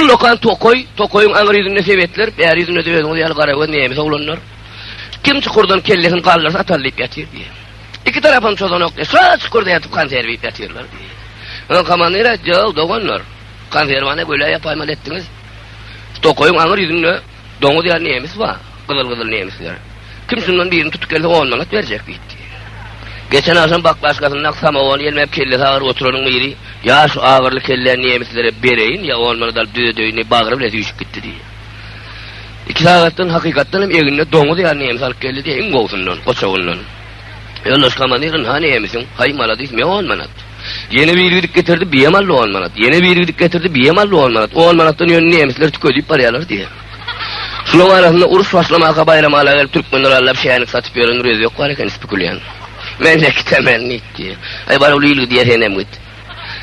Ullakan tokaý, tokaýyň aňry ýüzünde sebetler, bäri ýüzünde-de özüňiz ýaly garagöz nemes oglanlar. Kim çukurdan kellesini galdyrsa atar diýip ýatyr diýýär. Iki tarapam çozanok diýýär. Şa çukurda ýatyp konserw iýip ýatyrlar diýýär. Soň komandir aýtdy, Ýow, doganlar, konserwany göle ýapaýmaly etdiňiz. Tokaýyň aňry ýüzünde Doňuz ýaly nemis bar, gyzyl-gyzyl nemisler. Kim şundan birini tutup gelse, on manat berjek diýipdi. Geçen agşam baklaşkasynda samowony ýelmäp kellesi agyr oturanyň biri, Ýa şu agyrly kelläni nemislere bereýin, ýa on manat alyp düzedeýin diýip, bagry bile süýşüp gitdi diýdi. Iki sagatdan, hakykatdan hem egninde doňuz ýaly nemis alyp geldi diýýär, iň gowusyndan, goçagyndan. Ýoldaş komandirin hany emisiň? Haý maladis me on manat. Ýene biri gidip getirdi biem aldy on manat. Ýene biri gidip getirdi biem aldy on manat. On manatdan ýöne nemisler tükedip barýarlar diýýär. Şulaň arasynda uruş başlamaka baýramala gelip türkmenler allap şänik satyp ýören bir özbek bar eken spekulian. Mende kitemen nit diýýär. Haý bar ol il gidýär senem git.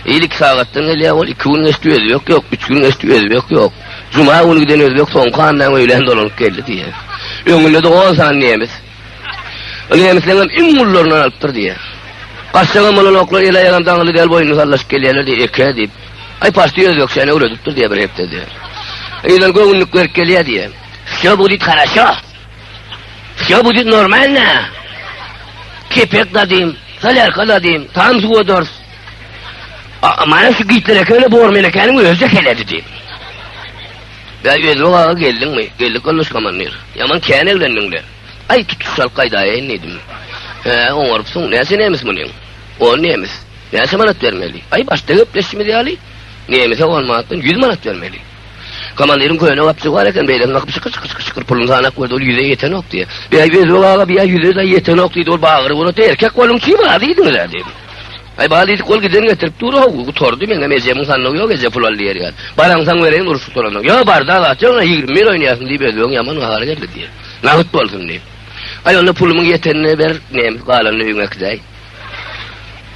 Il iki sagatdan gelýär ol iki gün geçdi özbek ýok, üç gün geçdi özbek ýok. Juma güni giden özbek soňky andan öýlän dolanyp geldi diýýär. Öňünde-de on sany nemis. Ol nemisleňem iň gullaryndan alypdyr diýýär. Gaçjagam bolanoklar, el-aýagam daňyly däl, boýnuny sallaşyp gelýärler diýýär, eke diýip. Aý, parti özbekçäni öwredipdir diýýär bir hepde diýýär. Ýylan göwünlik berip gelýär diýýär. Wsýo budit haraşo. Wsýo budit normalna. Kepek dadym, solýarka dadym, tam suwa dors. A, mana şu gitler ekeni bor menekäniň özi-de heledi diýip. Bä Ýüzbek aga geldiňmi? Geldik Gulluş komandir. Ýaman kän eglendiň-le. Aý tutuş çalt gaýdaýaýyn diýdim. Hä, oňarypsyň. Näçe nemis munyň? On nemis. Näçe manat bermeli? Aý başda gepleşişimiz ýaly, nemise on manatdan ýüz manat bermeli. Komandiriň köne gapjygy bar eken, beýleki gapy şykyr-şykyr-şykyr-şykyr puluny sanak berdi, ol ýüze ýetenok diýdi. Bä Ýüzbek aga, bä ýüze-de ýetenok diýdi, ol bagyry gurady. Erkek boluň çyn, razy diňiz-ä diýdim. Aý bal diýdik ol giden getirip dur how gutardy meňem ejemiň sandygy ýok eje pul al diýer ýaly. Baraňsaň bereýin urşup duranok. Ýa barda zat ýok ýa ýigrimi bir oýnaýasyň diýip özbegiň ýaman gahary geldi diýer. Nagt bolsun diýip. Aý onda pulumyň ýetenini ber neme galanyny öýüňe äkidäý.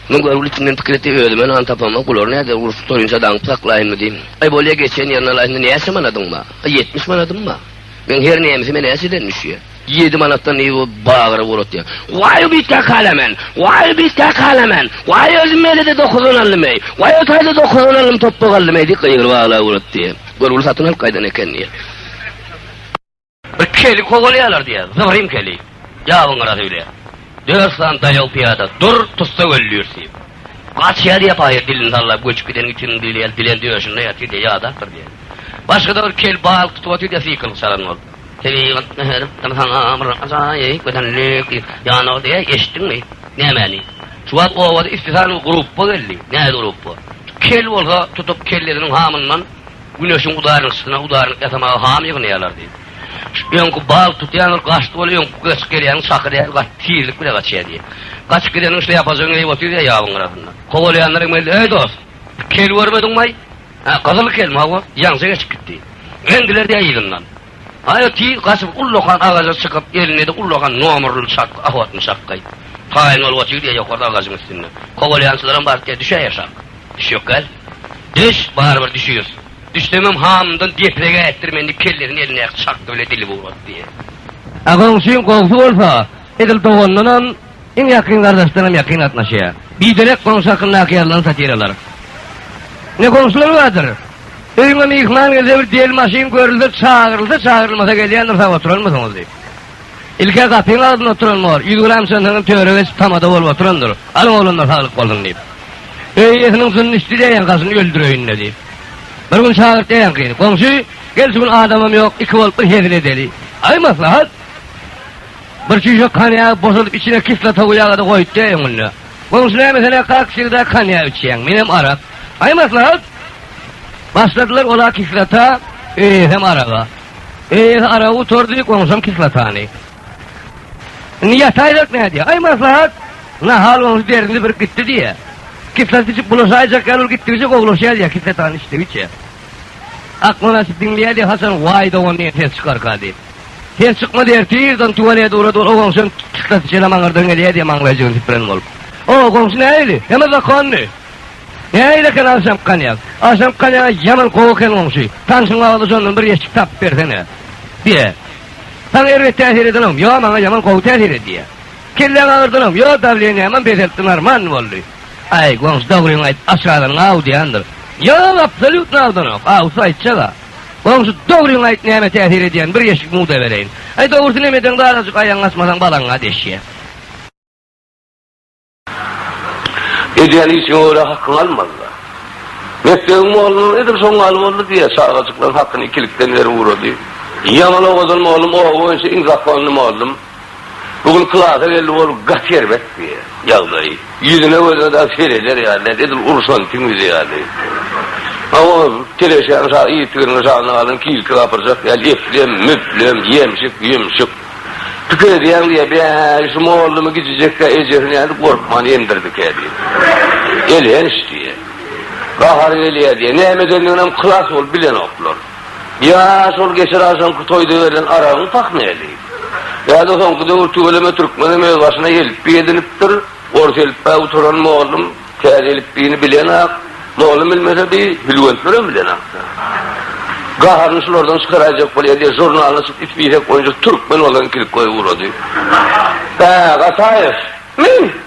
Muň görgüli içimden pikir etdi özüme nan tapamok bulary näder urşup durunça daňyp saklaýynmy diýip. Aý bolýa geçen ýerine alaýsyn näçe manadyň bar? Aý ýetmiş manadym bar. Meň her nemesime näçeden düşýär? Ýedi manatdan nji bu bagra bolat diýýär. Waý o biýtge kala men, waý o biýtge kala men, waý özüm meýlede dokuzdan aldym eý, waý o taýda dokuzdan aldym topbak aldym eý diýip gygyryp aglap bolat diýýär. Gör uly satyn alyp gaýdan eken diýýär. Bir keli kowalaýarlar diýýär, zybyrym keli. Ýabyň gyrasy bile. Dört sany daýaw pyýada dur, tussa öldürt diýip. Gaçýar diýýär paýhas dilini sallap göçüp gideniň üçin diýilýär, dilen döşünde ýatyr diýýär, ýadapdyr diýýär. Başga-da bir kel balyk tutup otyr diýýär, sykylgy çalan bolup. Tebigatda her bir saňa bir ajaýyp gözellik ýanar diýýä, eşitdiňmi? Nämäni? Şu wagt obada ispisialnyý gruppa geldi. Nähili gruppa? Kel bolsa tutup kellesiniň hamyndan Güneşiň udarynşysyna udarnyk ýasamaga ham ýygnaýarlar diýip. Şu öňki bal tutýanlar gaçdy bol öňki göç gelýäniň çaky däl gaty tizlik bile gaçýa diýip. Gaçyp gideniň şleýapajaň geýip otyr diýýä ýabyň gyrasynda. Kowalýanlar hem geldi, Eý dost! Kel görmediňmaý? Hä, gyzyl kelme, hawa, ýaňja geçip gitdi. Geňdiler-dä yzyndan. Aýa tiz gaçyp, ullakan agaja çykyp, elinde-de ullakan nomerli çakga, ahwatny çakga. Taýyn bolup otyr-dä ýokarda agajyň üstünde. Kowalaýançylaram baryp-dä, düşäý aşak. Düş ýok gel. Düş, barybir düşüris. Düşsemem hamyndan depregi ätdirmen diýip kellesini elindäki çakga bile dilip ugratdy. Agaň üçin gowusy bolsa, edil doganyndanam. Iň ýakyn gardaşdan hem ýakyn gatnaşýar. Biderek goňşy hakyndaky ýazylan satiralar. Ine, goňşular bardyr. Öýüňe myhman gelse, bir del maşyn görülse, çagyrylsa, çagyrylmasa gelýändir, sag oturanmysyňyz diýip. Ilk-ä gapyň agzynda oturan bor, ýüz gram çantaňam töre geçip tamada bolup oturandyr. Alyň oglanlar saglyk bolsun diýip. Öý eýesiniň jyny düşdi diýýän gaşyny öldüreýin-le diýip. Bir gün çagyrt diýýän gyzy. Goňşy, gel şu gün adamam ýok, iki bolup bir hezil edeli. Aý maslahat! Bir çüýşek konýagy boşadyp içine kislotagy ýaga-da goýutdy öňünde. Goňşy näme sen-ä kak wsegda konýak içýäň, menem arak. Aý maslahat! Başladylar ol-a kislota, öýesem araga. Öýesi aragy gutardy, goňşam kislotany. Indi ýataýzak nädýä? Aý maslahat! Nahal goňşy derdini birip gitdi diýýä. Kislota içip bulaşaýjak ýaly ol gitdigiçe gowulaşýar diýýä kislotany içdigiçe. Akmyraşy diňleýär diýýä haçan waý dogan diýen ses çykarka diýip. Sen çykmaz ertirdan tüweleý dura-dura o goňşyň çykdasy çenä maňňyrdan gelýär diýip maňlaýjygyny süpüren bolup. O goňşy nähili? Heme zakonny. Nähili eken agşamky konýak? Agşamky konýagy ýaman gowy eken goňşy. Tanşyň bagly şondan bir ýeşik tapyp bersene. Diýýär. Saňa erbet täsir edenogmy? Ýok, maňa ýaman gowy täsir etdi diýýär. Kelläň agyrdanogmy? Ýok, dawleniýäm hem peseltdi, normal boldy. Aý, goňşy, dogryňy aýt, aç galanyň aw diýendir. Ýok, absolýutno awdanok. Awsy aýtjag-a. Goňşy, dogryňy aýt, näme täsir edýän, bir ýeşik muda bereýin. Aý, dogrusyny hem edeňde azajyk aýagyňy açmasaň balaňa deşýär. Edýän işiňe görä hakyňy almaly-da. Mekdebiň mollary edil şoň ýaly boldy diýýär, çagajyklaryň hakyny ikilikden berip ugrady. Ýaman owadan mollum, oba boýunça iň zakonly mollum. Bu gün klasa geldi, ol gaty erbetdi, ýagdaýy. Ýüzüne gözüne dagy sereder ýaly däl, edil urşan tüňňüji ýaly. Hawa, teleşäň şa yzygiderine şanyň alyn kilki gapyrjak ýaly eplem, müplem, ýemşik, ýümşük. Pikir edýäň diýýär, Bäý, şu mollumy gijijek-ä ejesini nädip gorkman emdirdikä diýip. Elhenç diýýär. Gahary gelýär diýýär. Näme edendiginem klas bolup bilenoklar. Ýa şol geçir agşamky toýda berlen aragyň pah näli? Ýa-da soňky döwür tüweleme türkmenem öz başyna elipbiý edinipdir, ors elipbä oturan mollum täze elipbiýni bilenok, mollum bilmese bi hülwentlerem bilenok-da. Gaharyny şulardan çykaraýjak bol ýa-da žurnalyny açyp üç biýsek boýunça türkmen bolan kilkoýa ugrady. Hä, Gataýew! Men!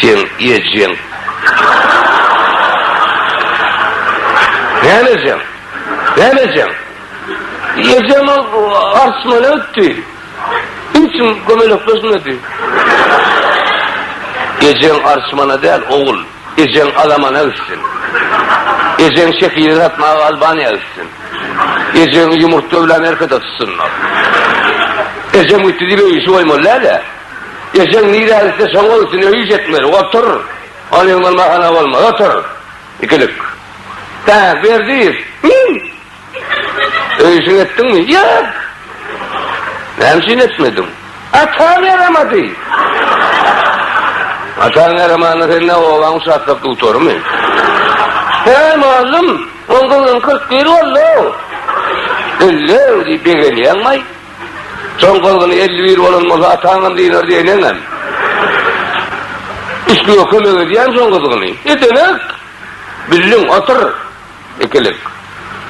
Seň ejeň. Näme ejeň? Näme ejeň? Ejem arçmana gitdi. Niçin kömelekleşmedi? Ejeň arçmana däl, ogul. Ejeň alamana gitsin. Ejeň şekili satmaga Albaniýa gitsin. Ejeňi ýumurtga bilen erkede tutsynlar. Ejem gitdi diýip öý işi goýmaly däl-ä. Ejeň nirä gitse şoňa gitsin, öýi ýetmeli, otur. Ony öň bolmahana bolmaz, otur. Ikilik. Hä, Berdiýew, min! Öý işiňi etdiňmi? Ýok! Näme üçin etmediň? Ataň ýaramady! Ataň ýaramanda sen ne, obaň uçastok dutarymy? Häý, mugallym, oň gyzynyň kyrk bir boldy-ow! Ellew, diýip begenýäňmi-aý? Soň gyzgyny elli bir bolan bolsa, ataňam dynar diýen eňem. Islige kömek edýän soň gyzgyny. Edeňek! Bildiň, otur! Ikilik.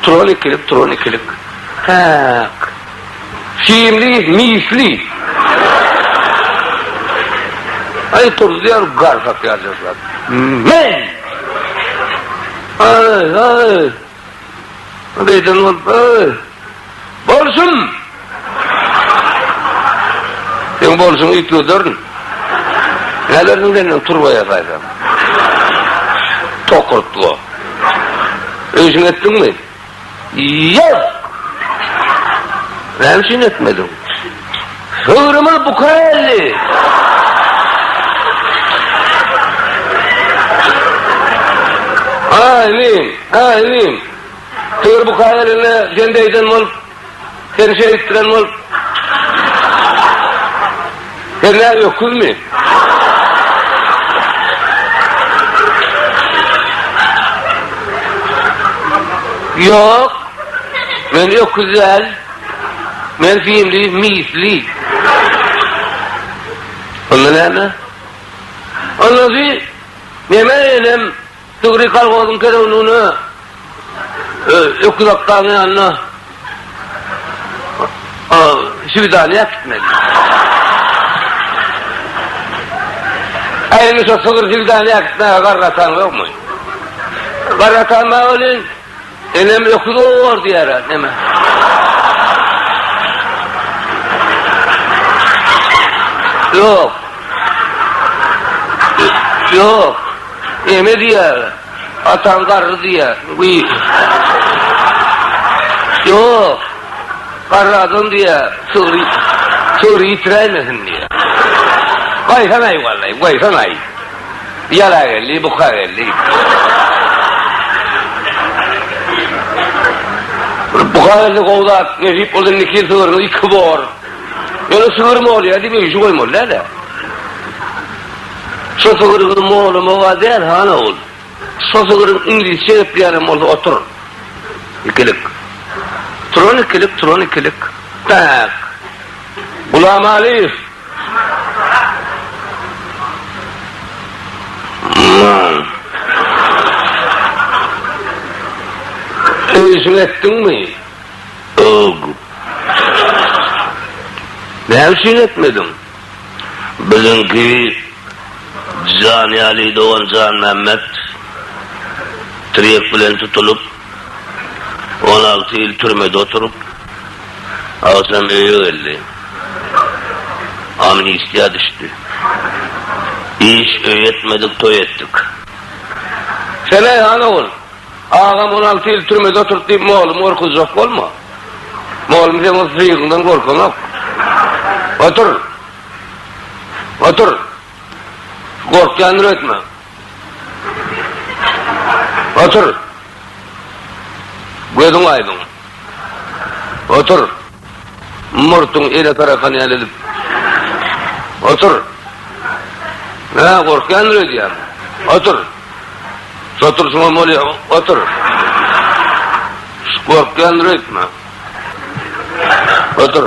Turan ikilik, turan ikilik. Päk! Simli, misli. Aý turuzýar garsak ýaljyrlap. Men! Aý, aý! Ol eýsem bolsa, Bolsun! Seň bolşuňy üýtgederin. Nälersiň sen men turba ýasaýsam? Tokurtga. Öýşiňi etdiňmi? Ýok! Näme üçin etmediň? Döwrümiz bu köelli Amin! Amin! Döwür bu köelli seni beýden bolup, seni şeýtdiren bolup. Sen nä öküzmi? Ýok! Men öküz däl. Men hindi misli. Onda näme? Onda siz neme enem Tügri kolhozyň kerewligine öküz akgaryň ýanyna şwidaniýa gitmeli. Äýni şo sygyr şwidaniýa gitmäge garry atan ýokmy? Garry atan bar welin, Enem öküz owar diýer-ä, neme? Ýok. Ýok. Neme diýer? Ataň garry diýer. Ýok. Garry adam diýer. Sygry, sygry ýitiräýmesin diýer. Gaýsanaý, wallay, gaýsanaý. Ýala geldi, buka geldi. Buka geldi, gowy zat, nesip bolsa indiki ýyl sygyrymyz iki bor. Ýöne sygyr molýa diýip öýjük goýmaly däl-ä. Şo sygyryňy molamaga däl, han ogul. Şo sygyryň iňlisçe gepleýänem bolsa otur. Ikilik. Turan ikilik, turan ikilik. Tak. Gulamalyýew Aman Öýjüň etdiňmi? Ög Näme üçin etmediň? Biziňki Janýaly dogan Janmämmet tirýek bilen tutulyp, On alty ýyl türmede oturyp, agşam öýe geldi. Amnistiýa düşdi. Iş, öý etmedik, toý etdik. Sen Aýhan ogul, agam on alty ýyl türmede oturdy diýip moglumy gorkuzjak bolma. Moglum seň o syýgyňdan gorkanok. Otur. Otur. Gorkýandyr öýtme. Otur. Gözüň aýdyň. Otur. Murtuň ele tarakan ýaly edip. Otur. Hä, gorkýandyr öýdýän. Otur. Şo turşuňam bolýar. Otur. Gorkýandyr öýtme. Otur.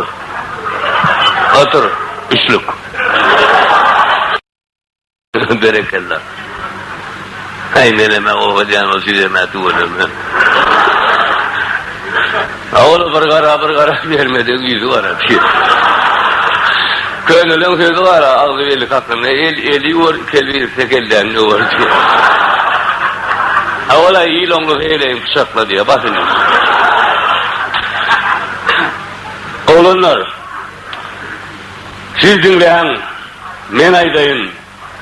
Otur. Üçlük. Berekella. Haý meleme oba diýen ol süýeme tüweleme. A ol bir gara bir gara bermede ýüzi gara diýýär. Köneliň sözi bar agzy beli kakynda el eli ýuwar iki el birikse kelleni döwer diýýär. A ol-a il oňlusy heleýiň pyçakla diýýär. Bas indi. Oglanlar. Siz diňläň, men aýdaýyn,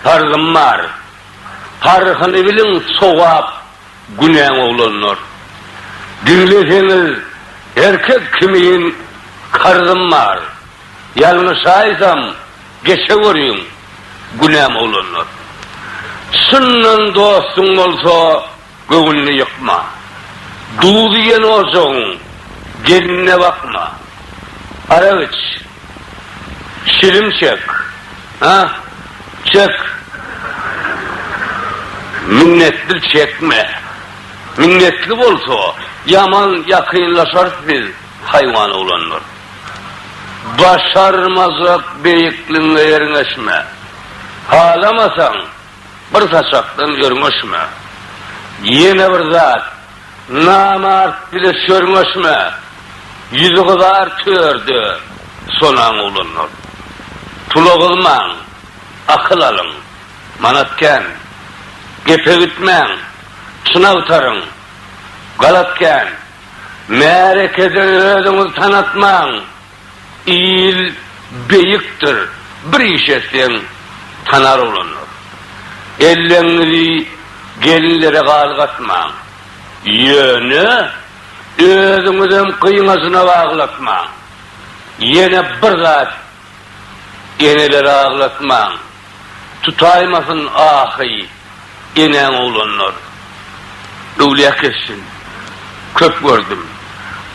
parzym bar. Paryhyny biliň, sogap, günäň oglanlar. Diňleseňiz, her kes kimin karzym bar. Ýalňyş aýtsam, geçe görüň, günäm oglanlar. Çyndan dostuň bolsa, Göwnüni ýykma. Duz iýen ojagyň gelinine bakma. Arak iç. Şilim çek. Ha, çek. Minnetli çekme. Minnetli bolsa, ýaman ýakynlaşarys biz haýwanoglanlar. Başarmajak beýikligiňe ýerňeşme. Halamasaň. Bir saçakdan örňeşme. Ýene bir zat, namart bile sörňeşme. Ýüzi gyzar törde sonaň oglanlar. Pula gyzmaň, akyl alyň. Manat kän. Gepe gitmäň, çyn agtaryň. Galat kän. Märekede özüňizi tanatmaň. Il beýikdir, bir iş etseň, tanar olanlar. Elleňňizi gelinlere galgatmaň. Ýöne, özüňizem gyňajyna aglatmaň. Ýene bir zat, eneleri aglatmaň. Tutaýmasyn ahy, enäň oglanlar. Öwlýä kessin. Köp gördüm.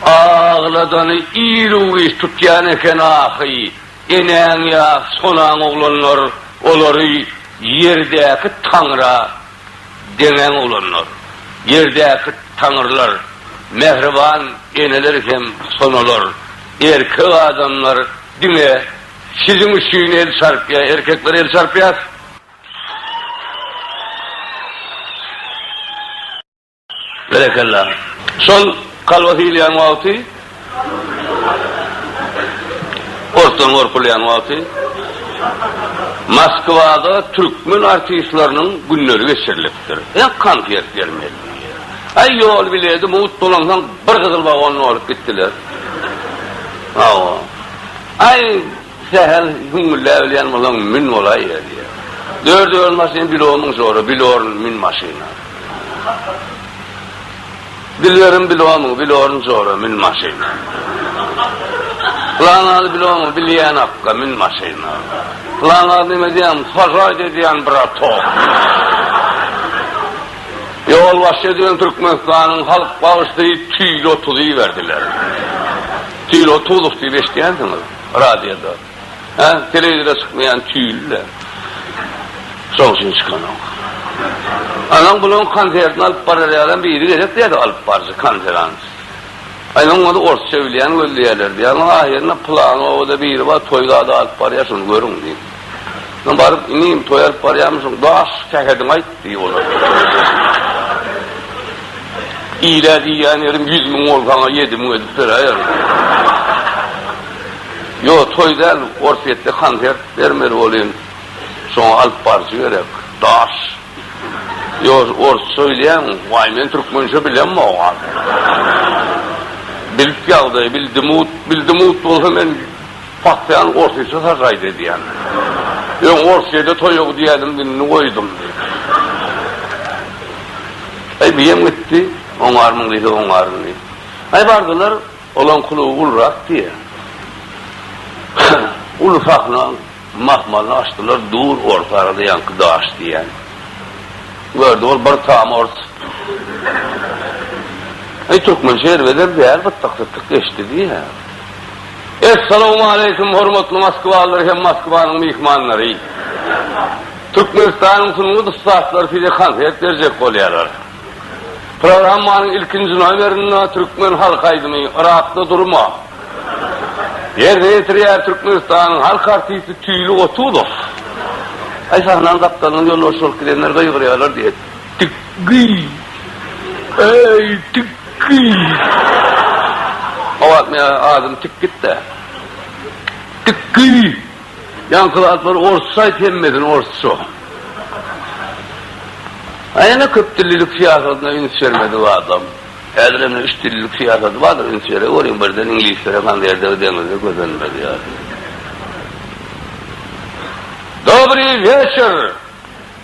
Agladany ir-u-giç tutýan eken ahy, enäň ýa sonaň oglanlar, olary ýerdäki taňra deňäň oglanlar. Ýerdäki taňrylar, mähriban eneler hem sonalar. Erkek adamlar diňe. Siziň üçin el çarpýar. Erkekler el çarpýar. Berekella. Şol kalbasy iýilýän wagty, ortadan gorkulýan wagty Moskwada türkmen artistleriniň günleri geçirilipdir. Ýa konsert bermeli. Aý ýol bileti mugt dolansaň bir gyzyl wagonda bolup gitdiler. Hawa. Aý, sähel gümmüldäbilýän bolaň, mün bolaýýa, diýýär. Dört ýol maşyn bilornyň şora, bilorn, mün maşyna. Dilberim bilornyň, bilorn şora, mün maşyna. Pylanazy bilornyň, bilýän akga, mün maşyna. Pylanaz näme diýýän, sažaýt edýän, bratok. Ýolbaşçy edilen Türkmenistanyň halk bagşysy tüýli otuzy berdiler. Kino tozuk diýip eşidýänsiňiz radioda. Hä, telewizora çykmaýan tüýli-le. Şoň üçin çykanok. Anaň bulaň konsertini alyp barar ýalam biri gerek diýýärdi alyp baryjy konferans. Aýlaň ony orsça bilýän gözleýärler diýýär. Ahyryna pylany obada biri bar toý zady alyp barýar şony görüň diýip. Soň baryp, Inim, toý alyp barýarmyşyň, daş sähediňi aýt! diýip olar. Ile diýýän ýerim ýüz müň bol, saňa ýedi müň edip beräýerin. Ýok, toý däl, Orsýetde konsert bermeli bolýan. Şoňa alyp baryjy gerek. Daş. Ýok, orsça bilýäňmi? Waý, men türkmençe bilemok. Bilip ýagdaýy, bildim-ut, bildim-ut bolsa men Pasyýan orsyça sažaýt edýän. Öň orsçada toýa gidýädim, indi goýdum diýip. Aý, biýem gitdi, oňarmyň diýse oňaryn diýip. Aý, bardylar, olaň kluby ulurak diýýä. Uly sahna, mahmalyny açdylar, dur, orta arada ýaňky daş diýýän. Gördi ol bir tam ors. Aý, türkmençe erbeder däl, gytdyk-sytdyk geçdi diýýä. Essalawmaleýkim hormatly moskwalylar hem Moskwanyň myhmanlary! Türkmenistanyň sungat ussatlary size konsert berjek bolýarlar. Programmanyň ilkinji nomerinde türkmen halk aýdymy Yrakda durma! ýerine ýetirýär Türkmenistanyň halk artisti Tüýli Gotuzow. Aý, sahnanyň gapdalyndan ýolbaşçy bolup gidenler gygyrýarlar diýet. Tikgi! Eý, Tikgi! Gawak meňe adyny tik git-de! Tikgi! Ýaňky zatlary orsça aýt, hemmesini orsça! A ýene köpdillilik syýasatyna üns bermedi bu adam. Häzir hem üçdillilik syýasaty bardyr, üns bere görüň, birden iňlislere konwertegi deňizde gözenmez ýaly. Dobryý weçer!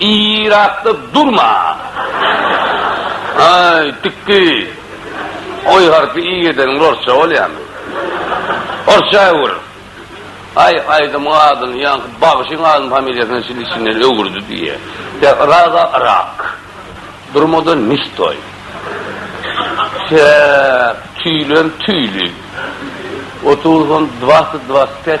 Yrakda durma! Aý, tikki! Oý harpy i edeniň orsça bolýamy? Orsça öwür! Aý, aýdymyň adyny ýaňky bagşyň adyny familiýasyny çyn içinden öwürdi diýýä. Ýa Yraga Yrak. Durmada ne stoý. Çäk, tüýlem tüýli. Otuz on dwasyt dwasyt pet.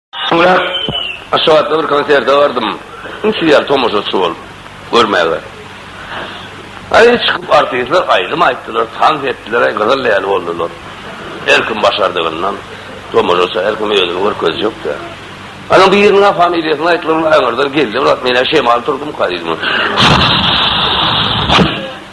Soňra Aşgabatda bir konserte bardym. Inçe ýaly tomaşaçy bolup görmäge. Aý, çykyp artistler aýdym aýtdylar, tans etdiler-aý, gyzyl ýaly boldular. Her kim başardygyndan, tomaşaça her kim özüni görkezjek-dä. Ana biriniň-ä familiýasyny aýtdylar, ol aňyrdan geldi, brat, men-ä şemal turdumka diýdim.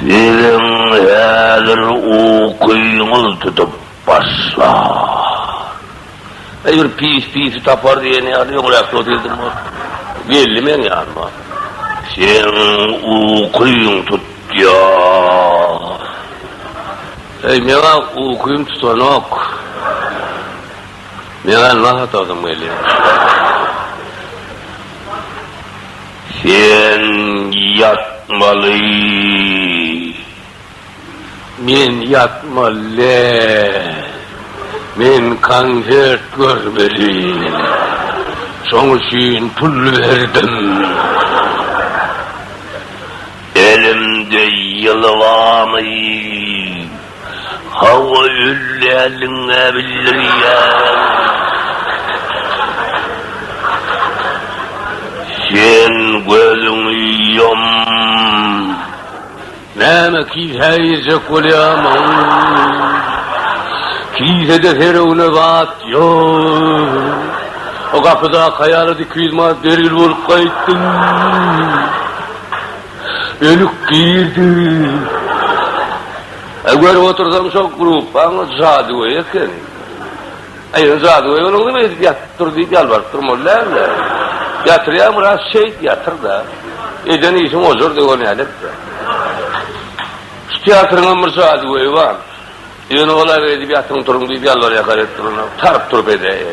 Siziň häzir ukyňyz tutup başlar. Eý, bir pis pisi tapar diýen ýaly öňräkki otyrdyň ol. Geldi meň ýanyma. Seň ukyň tutýar. Eý, meň-ä ukym tutanok. Meň-ä nahar tasym gelýär. Sen ýatmaly. Men ýatmaly däl. Men konsert görmeli. Şoň üçin pul berdim. Elimde ýylgamy. Hawa öldäliňä bildirýärin. Sen gözüňi ýum. Näme kilsä girjek bolýamyň? Kilsede serewne zat ýok. O gapydaky aýala diki ýüz manat bergil bolup gaýtdym. Önük girdi. Aý görüp otursaň şo gruppaň jadygöýi eken. Aý ýöne jadygöý bolan neme edip ýatyp dur diýip ýalbaryp durmaly däldi. Ýatyrýa biraz şeýt ýatyrda. Eden işiň ojar döwür näletde. Şu teatryňam bir jadygöýi bar. Ýöne olar edip ýatyň turuň diýip ýalbarýakar edip duranok. Taryp-turup edäýe.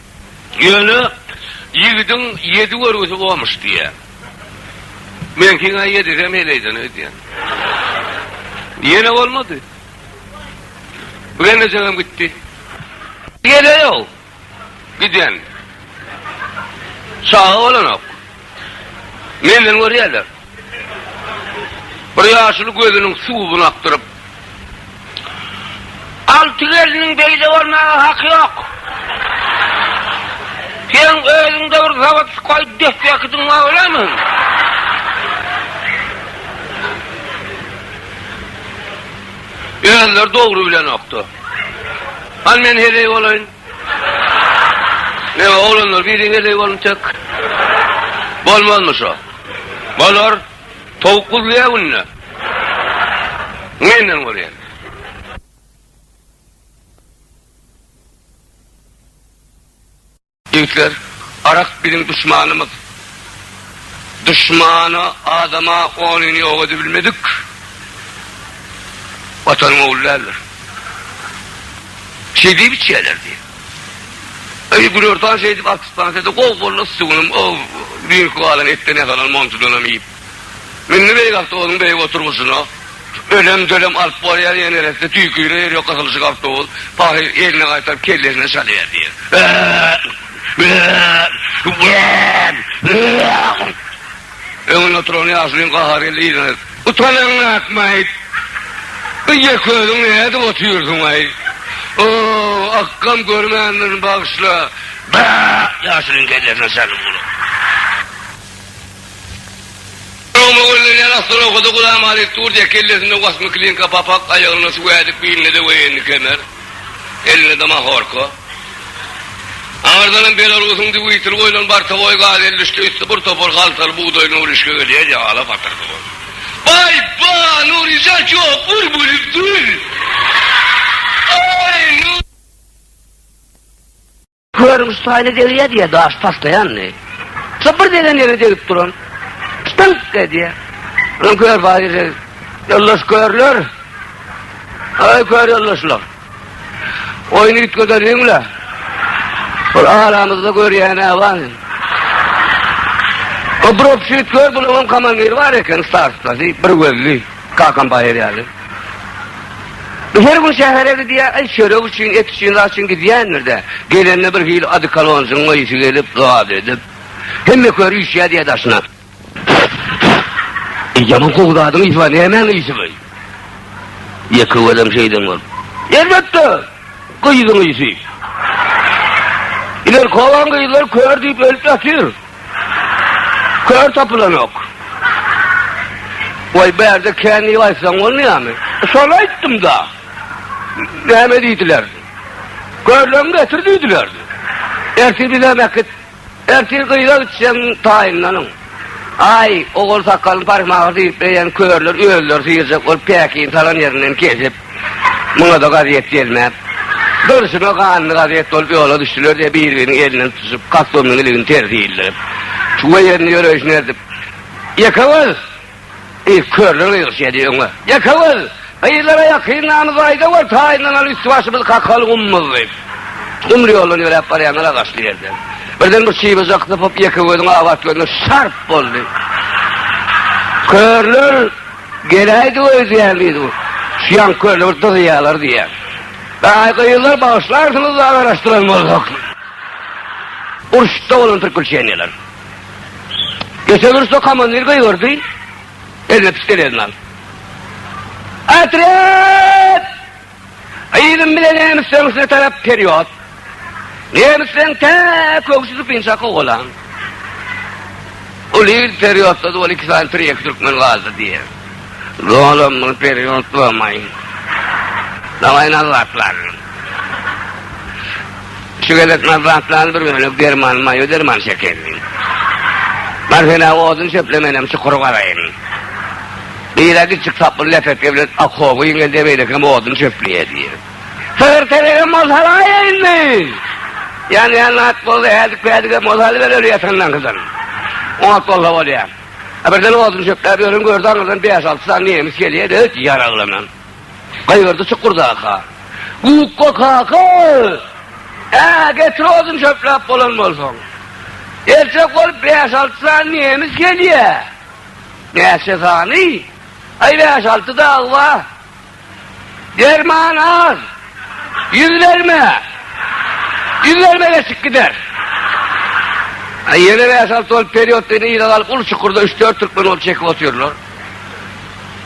Ýöne ýigidiň ýedi görgüsi bolmuş diýýär. Meňkiň-ä ýedisem heleýden öýdýän. Ýene bolmady. Bu gelnejegem gitdi. Geleýog. Giden. Çaga bolanok. Menden görýärler. Bir ýaşuly gözüniň suwuny akdyryp. Alty gelniň beýle bolmaga haky ýok. Seň özüň-de bir zawod sypaýyp depbekidiň bar bolamy? Özleri dogry bilenokdy. Hany men heleý bolaýyn. Ýa oglanlar biri heleý bolun tek. Bolmazmy şo. Bolar. Towuk guzlaýa günde. Menden görýän. Ýigitler arak biziň duşmanymyz. Duşmana, adama onyny ýok edibilmedik Watanyň ogly däldir. Şeý diýip içýärlerdi. Eý, Gülertan şeý diýip artistbansy edi, gowy boldy, sugynam, o, düýnki galan etden ýasalan montudanam iýip. Indi beýle awtobusyň beýik oturgyçyna ölem-dölem alyp bolýar, ýene neresini tüýküre ýer ýok gysylyşyk awtobus pahyr eline gaýtaryp kellesine çalýar diýip. Öňünde oturan ýaşulyň gahary geldi yzyna. Utanaňňy akmaýyp, bu ýeközüň nädip otyrsyň-aý? Ow, akgam görmändirin bagyşla. Ýaşulyň kellesine çaldy bu gulak. Soň mögellenýän aslan owkada Gulam Halyp durdy, kellesinde wasmy klinka papak, aýagynda suw ädik, beýninde-de woýenniý kemer, elinde-de mahorka. Aňyrdanam Belarusyň dwitel goýlan bortowoý gazelliçde üsti bir topar haltaly bugdaý Nuryşka gelýär, ýagala patyrdy bolup. Baý, ba, Nuryşa ýok, bul bulup dur. Aý, Nuryşka! Görüň, şu taýly degýär, diýýär, daş taşlaýandy. Şo bir degen ýere degip duran, ştynk edýär. Onuň kör baýry, ýoldaş körler, aý kör ýoldaşlar, oýny üýtgedeliň-le, bir aramyzda görýän-ä bar. O bir obşüýt kör, bunuň hem komandiri bar eken, starsda, diýip, bir gözli. Kakam baýar ýaly. Bu her gün şähere gidýär, aý çörek üçin, et üçin zat üçin gidýändir-dä. Gelende bir hili odikolonjygyň ysy gelip, zat edip. Hemme kör üýşýär diýýär daşyna. Eý, ýaman gowy zadyň ysy bar, nämäň ysy bu? Ýeke welem şeýden bolup. Elbetde, gyzyň ysy. Ileri kowan gyzlar kör diýip ölüp ýatyr. Kör tapylanok. Goý, bärde kän diýip aýtsaň bolmaýarmy? Şony aýtdym-da. Näme diýdiler? Körleňi getir diýdiler. Ertir bizem äkit. Ertir gyza gitseň taýynlanyň. Aý, ogul sakalyny parymaga diýip beýen körler özleri syýrjak bolup päkini salan ýerinden kesip, Muňa-da gazet gelmän, durşuna ganly gazet bolup ýola düşdüler-de, bir-biriniň elinden tutuşyp, kassobnyň iligini tersi ildirip, çuwa ýerinde ýöreýşini erdip, Ýekewüz! diýip, körler gygyrşýady, öňe! Ýekewüz! Gyzlara ýakyndanymyzy aýdawör, taýynlanaly, üsti-başymyzy kakaly gumumyz! diýip, gumly ýoldan ýöräp barýanlar agaçly ýerde, birden bir çybajy akysyp, Ýekewüziň abat gözüne şarp boldy. Körler. Geläýdi öýdýän diýdi bu. Şu ýaňky kölde bir dyzýalar diýýän. Aý gyzlar bagyşlarsyňyz-da agaraşdyran bolsak. Urşda bolan prikuşeniýalar. Geçen urşda komandir gygyrdy. Eline pistelesini aldy. Otret! Yzym bilen nemes söňüsine tarap perýod. Nemisleň tä köwşi sypynça kowalan. Ol il perýodda-da ol iki sany tirýek türkmen galdy diýýär. Doganam muny perýod bolmaý. Daway nazlatlar. Şu gezek nazlatlaryny bir bölek derman maýo derman çekeýin. Bar sen-ä odun çöple menem çukur gazaýyn. Gyra gitjik saply lepeke bilen okoba giňeldi, beýlekem odun çöpleýärdi. Sygyr telegem bolsa alaýa indi! Ýanýan zat bolsa häzik-päzigem bolsa alyber öli ýatanlaňkydan. Ot bolsa bolýar. A birden odun çöpläp ýören gördi, aňyrdan bäş-alty sany nemes gelýär-de, öt ýaraglanan. Gygyrdy çukurdaka. Gukga kaka! Ä, getir odun çöpläp bolan bolsaň. Erjek bolup bäş-alty sany nemes gelýär. Näçe sany? Aý bäş-alty dagy ba. Derman az. Ýüz berme. Ýüz berme geçip gider. Aý ýene bäş-alty bolup perýodda ýene ýyla galyp uly çukurda üç-dört türkmen ol çekip otyrlar.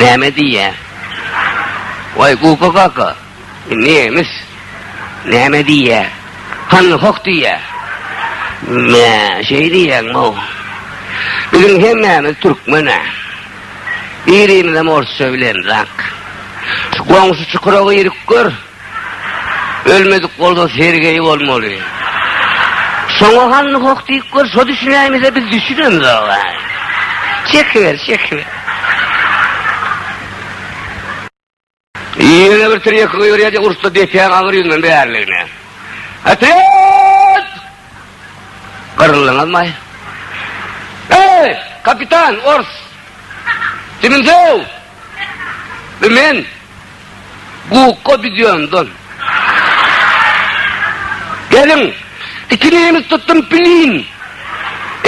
Näme diýýä? Waý, Guka kaka, nemes näme diýýä? Hany hoh diýýä. Mä, şeý diýýäňmi? Biziň hemmämiz türkmen-ä. Birimizem orsça bilenrak. Şu goňşy çukura girip gör. Ölmedik bolsa Sergeý bolmaly. Şoňa hany hoh diýip gör, şo düşünäýmese biz düşünemzog-a. Çekiber, çekiber. Ýene bir trek goýberýär-de urusta depäň agyr ýüzünden bäriligine. Otret! Gyryldyňyzmaý? Eý, kapitan, ors! Diňizöw! Bu men gukga bidiýandan. Geliň, iki nemes tutdum pilin.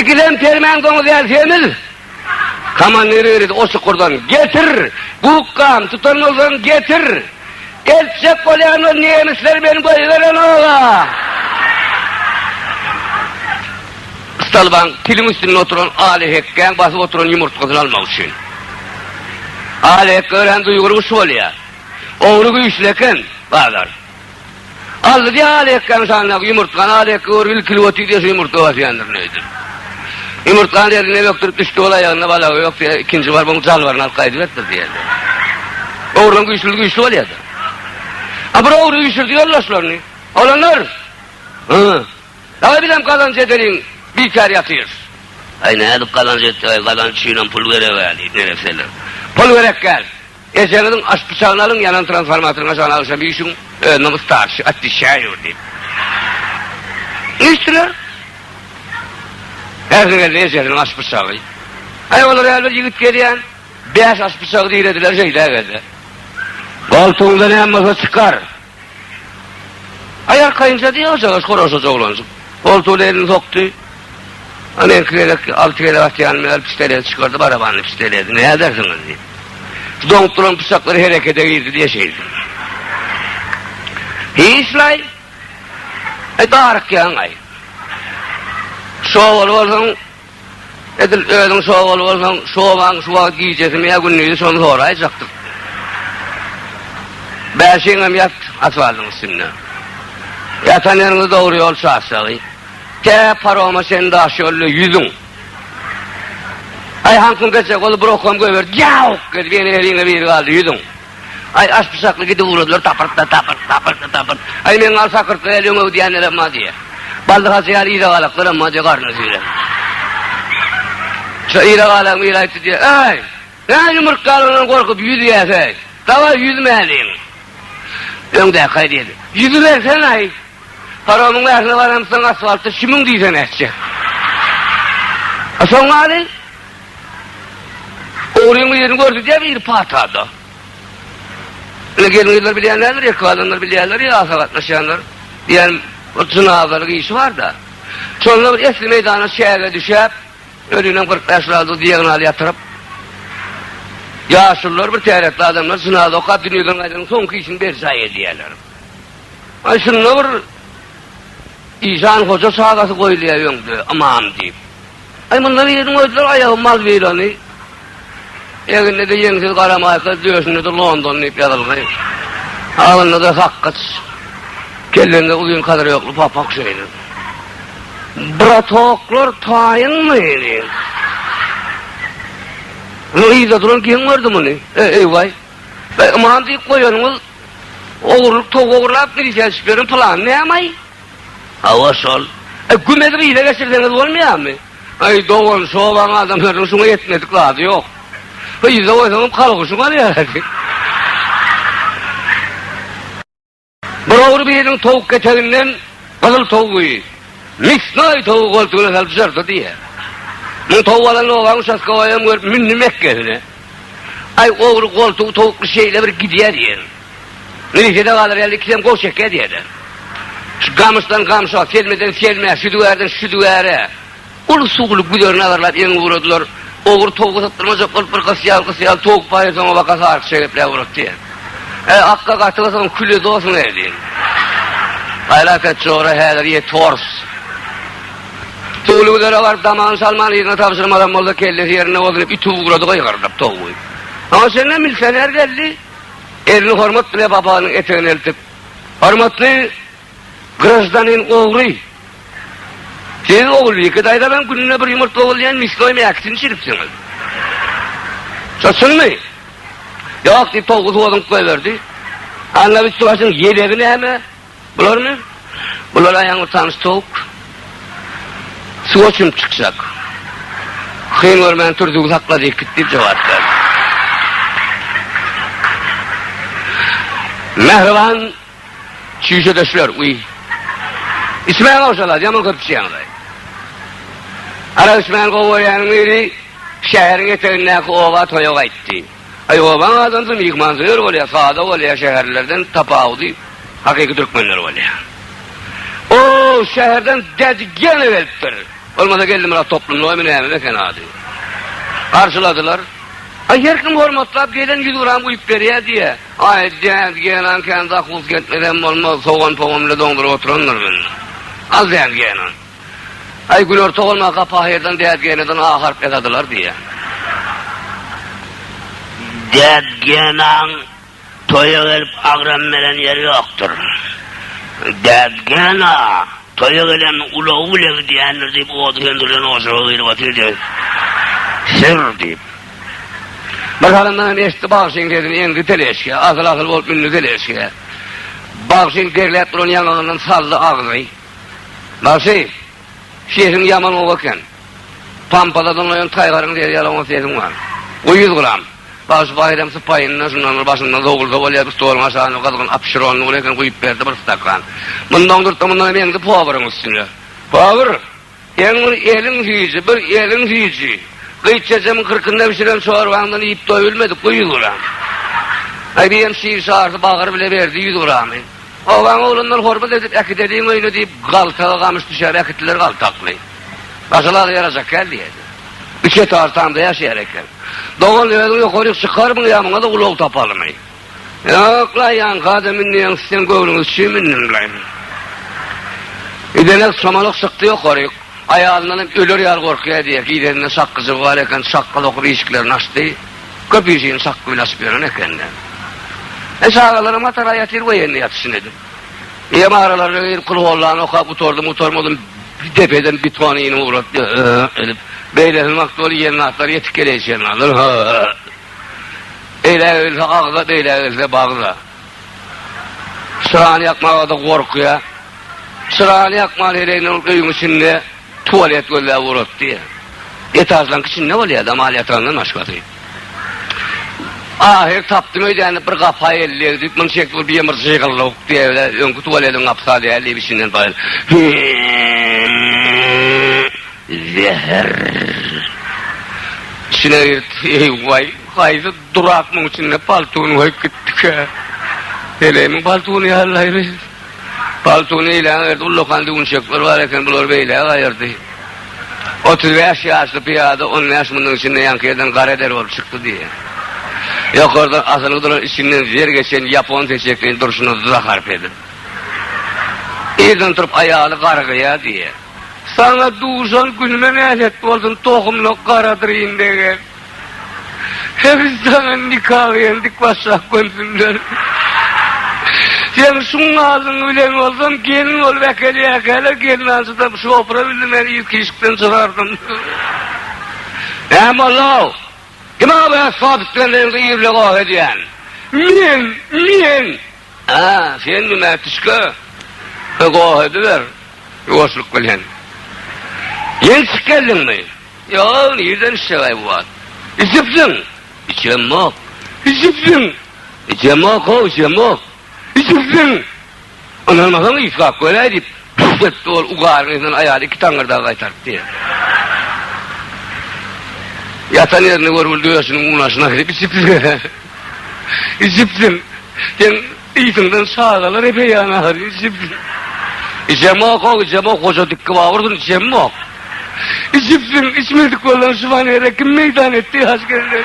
Ikisem permen doňuz ýaly semiz. Komandir ýöredi o şukurdan. Getir, gukgam, tutan bolsaň getir. Eltjek bolýan ol nemesler meni goýberen ola. Stalbaň piliň üstünde oturan Aly hekgäň basyp oturan ýumurtgasyny almak üçin. Aly hek örän duýguly guş bolýar. Ogry güýçli eken, bazar. Aldy-da Aly hekgäň şanyndaky ýumurtgany, Aly hek görüp ilkilip otyr diýşi ýumurtga basýandyr diýdi. Ýumurtgany elinden bökdürip düşdi, ol aýagynda balagy ýok diýdi, ikinji baryp onuň jalbaryny alyp gaýdyberipdir diýdi. Ogryň güýçlüdi güýçli bolýady. A bir ogry üýşürdi ýoldaşlaryny. Olanlar! Hy! Dagy bizem gazanç edeliň, bikär ýatyrys. Aý, nädip gazanç etjek-aý, gazanç üçinem pul gereg-ä, diýip, neresseler. Pul gerek däl. Ejeňiziň aş pyçagyny alyň, ýanan transformatoryň aşagyna agşam üýşüň, özüniň yssarçy, atdişäýur, diýip. Üýşdüler. Ähli geldi ejesiniň aş pyçagy. Aý, olar ýaly bir ýigit gelýän, bäş aş pyçagy dirediler, şeýdägelse. Goltugyňda näme bolsa çykar. Aýal kaýynja diýýär ojaga, horaşyja oglanjyk. Goltugyna elini sokdy. Ana iki gezek, alty gezek atýan meger pistoleti çykardy, barabanly pistoleti. Näme edersiň indi? Doňup duran pyçaklar herekete girdi diýýär şeýle. Hiç-laý. Aý darykýaň-aý. Şo bolup bolsaň, Edil özüň şu obaly bolsaň, şu obaň şu wagt gijesimi ýa gündizi şony soraýjakdyk. Bäşiňem ýat asfaltyň üstünde. Ýatan ýeriňde dogry ýol çaşjagy. Tä paroma çen daş ýolda ýüzüň. Aý, haňkyň gecek bolup, brokam göýberdi. Ýawk! Edip ýene eliňde biri galdy, ýüzüň. Aý, aşpyşakly gidip ugradylar, tapyrtda, tapyrt, tapyrtda, tapyrt. Aý, meň al sakyrtly el öňe öwdýänler hem bar diýýär. Baldyhajy ýaly ýyragalaklar hem bar diýýär, garnyny süýrän. Şo ýyragalagyň biri aýtdy diýýär, Äý, näme ýumurtgalaryndan gorkup ýüzýäs, äý? Dawaý, ýüzmäliň. Öňdäki aý diýdi, Ýüzübersene, aý. Paromyň bärsine baramsoň asfaltda şümüň diýsene etjek. A soň maly? Ogryň birini görkezýär ir patada. Ine gelin-gyzlar bilýänlerdir, erkek adamlar bilýärler ýa asa gatnaşýanlar. Diýýän bir jynazalyk işi bar-da. Şonda bir esli meýdana çäge düşäp, özünem kyrk bäş ýylady diagnaly ýatyryp. Ýaşulylar bir täretli adamlar jynaza okap dünýeden gaýdanyň soňky işini berjaý edýärler. Aý şunda bir işan hoja çagasy goýulýar öňde ymam diýip. Aý munda biriň öýdüler aýagy mal birany egninde ýeňsiz gara maýka döşünde-de London diýip ýazylgy agnynda-da sakgyç kellende uzyn kadyrýokly papak şeýle Bratoklar taýynmy diýip Muny yzda duran geň gördi muny e eýwaý Aman diýip goýanyňyz ogurlyk towuk ogurlap milisiýa düşüp ýören pylan nämaý? Hawa şol. E gümezi gyza geçirseňiz bolmaýarmy? Aý dogan şobaň adamlarynyň şuňa ýetmedik zady ýok. Gyza goýsaňam kalgyşy barýar. Bir ogry biriniň towuk keteginden gyzyl towugy, misnaý towugy goltugyna salyp jyrdy diýýär. Muny towuk alan obaň uçastkowaýam görüp mündi mekgesine. Aý, ogry goltugy towukly şeýle bir gidýär diýýän. Milisiýada galar ýaly ikisem goh çekýär diýýärler. Şu gamyşdan gamşa, selmeden selmä, südügärden südügäre uly suwly güzerini agarlap ýeňiň ugradylar. Ogry towugy sypdyrmajak bolup bir gysy ýaly, gysy ýaly towuk baýa soňa baka sarykyşa gepläp ugratdy diýýän. Äý, akga gaty gysyň küle dosyn-eý diýen. Aýlak et jora häzir ýet hors. Towly Gülere baryp damagyny salman yzyna tabşyrmazam bolsa kellesi ýerinde bolsun diýip ütüp ugrady gygyrydyp towly. Aňa çenli milsioner geldi. Elini hormat bile babanyň etegine eltip. Hormatly graždanin ogry. Siz Ogulbike daýza bilen gününe bir ýumurtga owalýan misnoý mäkisini çiripsiňiz. Şo çynmy? Ýok diýip towly suwazyňyp goýberdi. Anna üsti başyň ýelegi näme? Bularmy? Bular aýagyňy utanyç towuk. Suwa çümüp çykjak. Hyn görmän tur, züwz hakla diýip git diýip jogap berdi. Mähriban çüýşedeşler, uý. Içmäň owşalat, ýaman köp içýäňiz-aý. Arak içmän gowy görýäniň biri şäheriň etegindäki oba toýa gaýtdy. Aý obaň adamsy myhmansöýer bolýar, sada bolýar, şäherlilerden tapawudy hakyky türkmenler bolýar. O şäherden Dädi gene gelipdir. Bolmasa Geldimyrat toplumlygamy nämemi eken ady. Garşyladylar. Aý her kim hormatlap gelen ýüz gram guýup berýär diýýär. Aý Dädi genan kän zahus gelmesem bolmaz, sogan-pogan bilen doňduryp oturandyr men. Al Dädi genan. Aý, güler togana gapahyrdan dädgänadan A harp ýazadylar diýýär. Dädgänaň toýa gelip agram beren ýeri ýokdur. Dädgäna toýa gelen ulagy bile gidýändir diýip ody söndürilen ojaga girip otyrdy. Sür diýip. Bir salymdan hem eşitdi bagşyň sesini eňdi teleşke, asyl-asyl bolup mündi teleşke. Bagşyň derläp duran ýaňagyndan saldy agzy. Bagşy, sesiň ýaman gowy eken. Pampada diňleýän taýgaryň sesi ýaly oňat sesiň bar. Goý ýüz gram. Bagşy Baýram sypaýyndan şundan bir başynda zowulsa bolýar bir stoluň aşagynda gyzgyn apşyrony ur eken guýup berdi bir stakan. Mundan durtda mundan hem eňdi poweriň üstüne. Power! Seň bir eliň süýji, bir eliň süýji. Gyt çeçemiň kyrkynda bişiren çorbaňdan iýip doýulmadyk bu ýüz gram. Aý diýem şir şarsy bagyr bile berdi ýüz gramy. Obaň oglanlar hormat edip äkideliň öýüne diýip galtaga gamyş düşäp äkitdiler galtakly. Başalaly ýarajak kän diýerdi. Üçe tartamda ýaşaýar eken. Dogan özüň ýokaryk çykarmyň ýa muňa-da ulag tapalymy? Ýok-la, ýaňky adam münýäňsi sen göwnüňiz üçin mündim bilen. Idenek çomalyk çykdy ýokaryk. Aýalyndan hem öler ýaly gorkýar diýýär. Gideninde çakgyjygy bar eken, çakga sokup işiklerini açdy. Köp işini çakgy bilen açyp ýören eken-de. Men çagalarymy Hatara ýatyr goýaýyn ýatysyn edip. Eýýäm aralaryna girip kulhowlany okap gutardym-gutarmadym, depeden biton iýnip ugratdy, Ö-ö-ö edip. Beýlesiniň wagty bolup ýeňňatlary ýetik geleýşendir, Hö-ö-ö. Beýle gelse agza, beýle gelse bagza. Çyrany ýakmaga-da gorkýa. Çyrany ýakman heleýinden ol öýüň içinde tualet gözläp ugrapdy. Etažlaň içinde bolýa-da, mal ýatagandan başgasy. Ahyry tapdym öýdän diýip, bir gapa elli egdip, muny çekdi, ol birem bir jygyllyk diýe-de, öňki tualetiň gapysa däl diýip, içinden paýl. Zäher. Içine girdi. Eý-waý, haýsy durak muň içinde paltuny goýup gitdikä? Heleýimiň paltuny ýallaýry. Paltuny eýläň ýerde ullakan düwünçekler bar eken, bulary beýläk aýyrdy. Otuz bäş ýaşly pyýada on bäş müniň içinde ýaňky ýerden gara der bolup çykdy diýýär. Ýokardan asylgy duran içinden zer geçen ýapon seçekini durşuna zahar pedip. Irden turup aýaly garygýar diýýär. Saňa duşan günüme nälet bolsun tohumlyk garadyryn degen. Heniz saňa nikagy hem dik başlap gönsinler. Sen şuň alyň bilen bolsam gelin bolup äkelýäkäler gelnanjydam şopura bildim meni ilki işikden çygardyň. Näme ollow? Kim-a bu äsbap islendigiňde irle goh edýän? Men! Men! A, senmi mätişge? Hä, goh ediber, ýuwaşlyk bilen. Ençik geldiňmi? Ýok, nirden içjeg-aý bu wagt? Içipsiň? Içemok. Içipsiň? Içemok-ow, içemok. Içipsiň? Ynanmasaň, yslap göräý, diýip, Bir depdi ol ugaryň yzyndan aýaly iki taňňyrdagy gaýtarypdy. Ýatan ýerinde görgüli döşüniň unaşyna girip içipdir. Içipdir. Seň yzyňdan çagalar epeýan ahyry içipdir. Içemok, o içemok, goja dikki babursun içemok. Içipdir, içmedik bolan şu fanere kim meýdan etdi haç geldi.